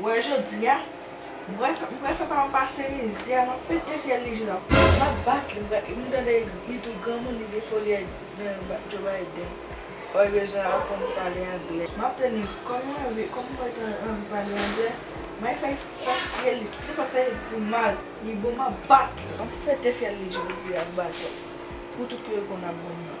Wè jodia m pral fè paranm pase mizè map pete fyèl li jel ap pete map bat li m tande li tou granmoun li gen foli nan Joe Biden ò li bezwen aprann pale anglè map tande kòm li anvi kòm mwen ta anvi pale anglè may fè fyèl li kipot sa li di mal li bon map bat li map pete fyèl li jodia ak baton pou tout kote konn ap banm nan.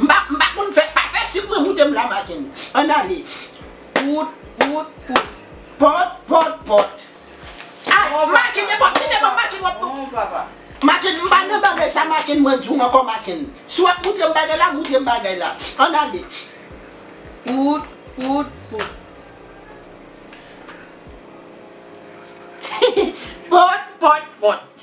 M pa m pa konn fè pa fè sik mwen moute m la maten ann ale pout pout pout pòt pòt pòt ah maten nenpòt ki lè m ap maten wap maten m pa nan bagay sa maten mwen di w ankò maten si wap moutre m bagay la moutre m bagay la ann ale pout pout pout pòt pòt pòt.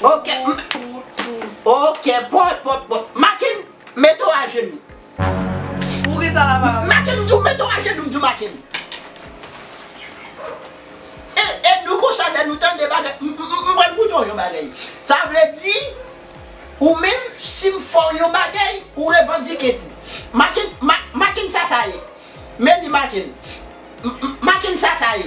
Ok ok pot pot pot Makenn mete w ajenou Makenn m di w mete w ajenou m di w Makenn E nou konsa lè nou tande bagay m pral moutre w yon bagay sa vle di ou menm si m fè w yon bagay ou revandike tou Makenn Makenn sa sa ye men li Makenn Makenn sa sa ye.